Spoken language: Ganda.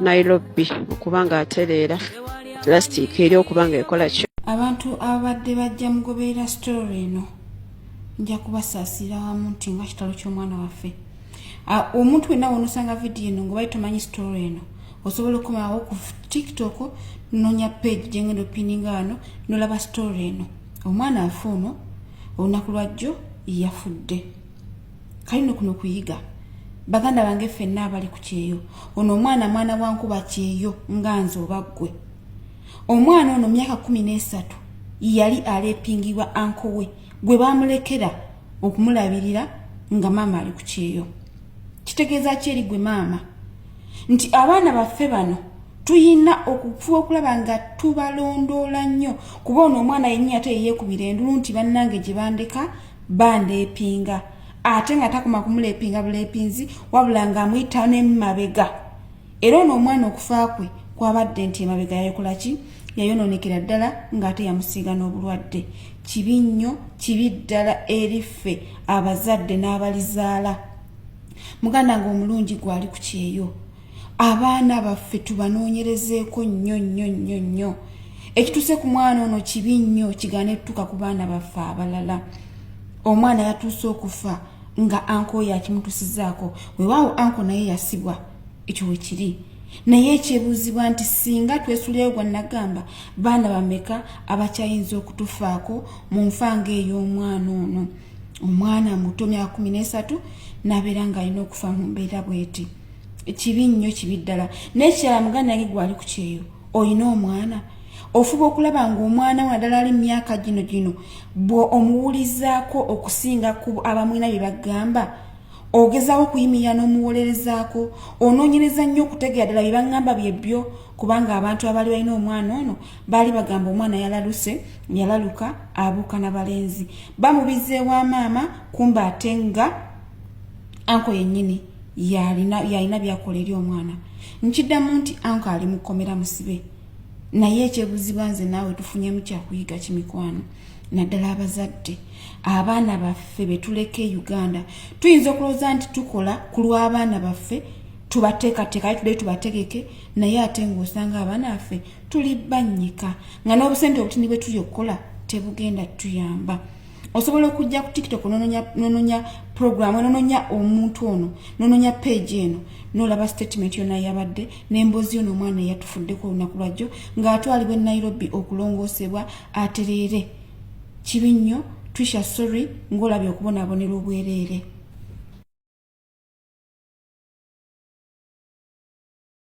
Nairobi okuba nga atereera plastic eri okuba nga ekola ki abantu ababadde bajja mugoberera story eno nja kubasaasira wamu nti nga kitalo ky'omwana waffe omuntu wenna wonosanga vidiyo eno ngaobali tomanyi story eno osobola okukomawo ku tiktok nonya page gyengenda opininga wano nolaba story eno omwana afe ono olunaku lwajjo yafudde kalino kuno kuyiga baganda bange fenna abali ku kyeyo ono omwana mwana wankuba kyeyo nga nze oba ggwe omwana ono myaka kumi n'esatu yali alepingibwa anko we gwe bamulekera okumulabirira nga maama ali ku kyeyo kitegeeza ki eri gwe maama nti abaana baffe bano tuyina okufuba okulaba nga tubalondoola nnyo kuba ono omwana yenyinyate yeyeekubira endulu nti bannange gye bandeka bandeepinga ate nga takoma kumuleepinga buleepinzi wabula ng'amuyita nemumabega era ono omwana okufa kwe kwabadde nti emabega yayokola ki yayonoonekera ddala ng'ate yamusiiga n'obulwadde kibi nnyo kibi ddala eriffe abazadde n'abalizaala muganda ng'omulungi gwali ku kyeyo abaana baffe tubanoonyerezeeko nnyo nnyo nnyo nnyo ekituuse ku mwana ono kibi nnyo kigaana etutuuka ku baana baffe abalala omwana yatuuse okufa nga anko oyo akimutusizaako wewaawo anko naye yasibwa ekyo we kiri naye ekyebuuzibwa nti singa twesuleyo gwa nagamba baana bameka abakyayinza okutufaako mu nfa nga ey'omwana ono omwana muto myaka kumi n'esatu nabeera ng'alina okufa mu mbeera bweti kibi nnyo kibi ddala nekirala muganda yange gwali ku kyeyo olina omwana ofuba okulaba ngaomwana wadala ali mumyaka gino gino bwe omuwulizaako okusinga ku abamwina bye bagamba ogezawo okuyimirira n'omuwolerezaako onoonyereza nnyo okutegera ddala bye baŋŋamba bye byo kubanga abantu abaali balina omwana ono baali bagamba omwana yalaluse yalaluka abuuka na balenzi bamubizeewa maama kumba ate nga anko yennyini yalina byakola eri omwana nkiddamu nti anko ali mukomera musibe naye ekyebuziba nze naawe tufunyemu kyakuyiga kimikwano naddala abazadde abaana baffe betuleka e uganda tuyinza okulowooza nti tukola ku lw'abaana baffe tubateekateeka aye tudde tubategeke naye ate ngaosanga abaana baffe tuli bannyika nga n'obusente obutini bwe tuli okukola tebugenda tuyamba osobola okujja ku tiktok nononya program nononya omuntu ono nononya page eno nolaba statement yona yabadde nembozi yono omwana eyatufuddeko olunaku lwajjo ngaatwalibwa enairobi okulongoosebwa atereere kibi nnyo trisha sorry ngaolabye okubonabonera obwereere